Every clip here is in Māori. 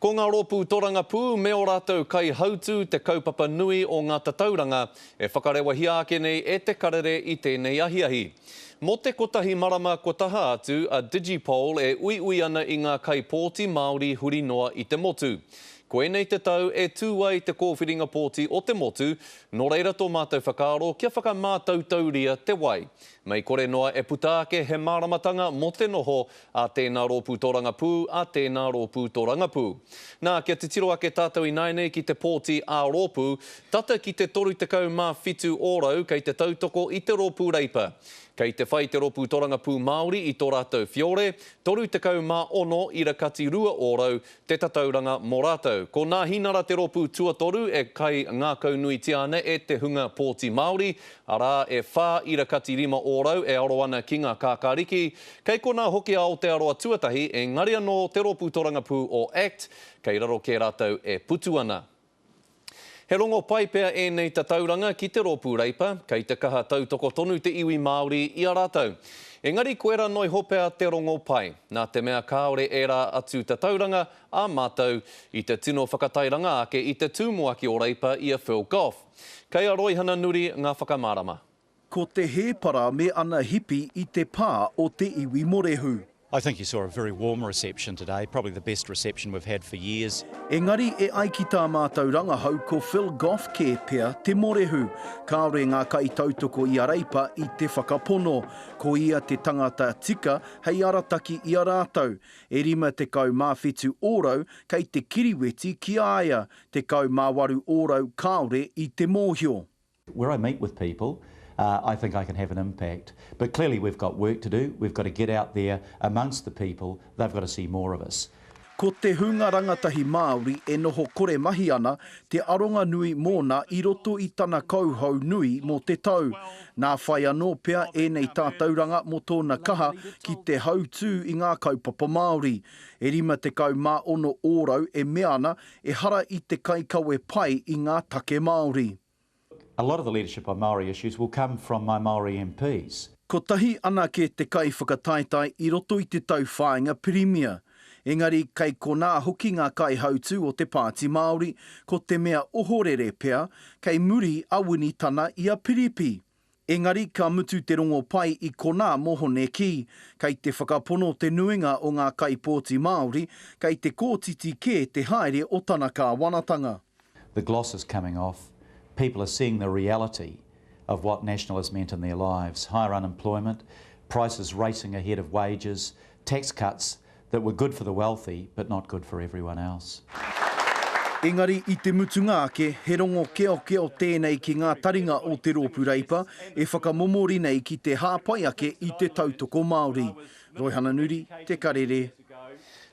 Ko ngā rōpū torangapū me ō rātou kaihautū te kaupapa nui o ngā tatauranga e whakarewahia ake nei e Te Karere i tēnei ahiahi. Mō te kotahi marama kua taha atu a Digipol e uiui ana i ngā kaipōti Māori huri noa i te motu. Koinei te tau e tū ai te kōwhiringa pōti o te motu, nō reira tō mātou whakaaro kia whakamātautauria te wai. Mei kore noa e puta ake he māramatanga mō te noho a tēnā rōpū tōrangapū, a tēnā rōpū tōrangapū. Nā, kia titiro ake tātou ināianei ki te pōti ā-rōpū, tata ki te 37 ōrau kei te tautoko i te rōpū Reipa. Kei te whai te rōpū tōrangapū Māori i tō rātou whiore, 36 ira kati rua ōrau, te tatauranga mō rātou. Ko Nāhinara te rōpū tuatoru e kai ngākaunuitia ana e te hunga pōti Māori, arā, e whā ira kati rima ōrau e aro ana ki ngā kākāriki. Kei konā hoki a Aotearoa Tuatahi, engari anō te rōpū torangapū o act, kei raro kē rātou e putu ana. He rongo pai pea ēnei tatauranga ki te Rōpū Reipa, kei te kaha tautoko tonu te iwi Māori i a rātou. Engari koirā noa iho pea te rongo pai, nā te mea kāore ērā atu tatauranga ā mātou i te tino whakatairanga ake i te tū moa ki ō Reipa i a Phil Goff. Kei a Roihana Nuri ngā whakamārama. Ko te hēpara me ana hipi i te pā o te iwi morehu. I think he saw a very warm reception today, probably the best reception we've had for years. Engari e ai ki tā mātou rangahau ko Phil Goff kē pea te morehu. Kāore ngā kaitautoko i a Reipa i te whakapono. Ko ia te tangata tika hei arataki i a rātou. E 57 ōrau kei te kiriweti ki a ia, 18 ōrau kāore i te mōhio. Where I meet with people, I think I can have an impact. But clearly we've got work to do, we've got to get out there amongst the people, they've got to see more of us. Ko te hunga rangatahi Māori e noho kore mahi ana te aronga nui mōna i roto i tana kauhau nui mō te tau. Nā whai anō pea ēnei tātauranga mō tōna kaha ki te hautū i ngā kaupapa Māori. E 56 ōrau e mea ana Ehara i te kaikawe pai i ngā take Māori. A lot of the leadership on Māori issues will come from my Māori MPs. Kotahi anake te kaiwhakataetae i roto i te tauwhāinga Pirimia, engari kei konā hoki ngā kaihautū o te Pāti Māori, ko te mea ohorere pea, kei muri a Wini Tana i a Piripi. Engari ka mutu te rongo pai i konā mō Hone Kī. Kei te whakapono te nuinga o ngā kaipōti Māori, kei te kōtiti kē te haere o tana kāwanatanga. The gloss is coming off, people are seeing the reality of what National has meant in their lives, higher unemployment, prices racing ahead of wages, tax cuts that were good for the wealthy but not good for everyone else. Engari i te mutunga ake, he rongo keokeo tēnei ki ngā taringa o te Rōpū Reipa e whakamomori nei ki te hāpai ake i te tautoko Māori. Roihana Nuri, Te Karere.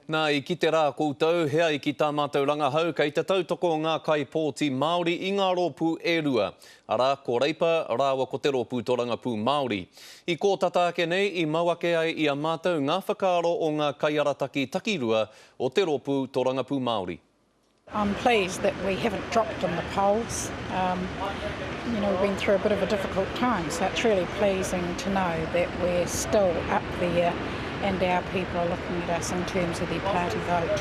Na, i kite ra koutou he ai ki ta matou rangahau kei te tautoko nga kai pōti Maori i nga ropu e rua. arā, ko Reipa rāua ko Te Rōpū Torangapū Māori. I kō tata ake nei, i mau ake ai i a mātou ngā whakaaro o ngā kaiarataki takirua o Te Rōpū Torangapū Māori. I'm pleased that we haven't dropped in the polls. You know, we've been through a bit of a difficult time, so it's really pleasing to know that we're still up there and our people are looking at us in terms of their party vote.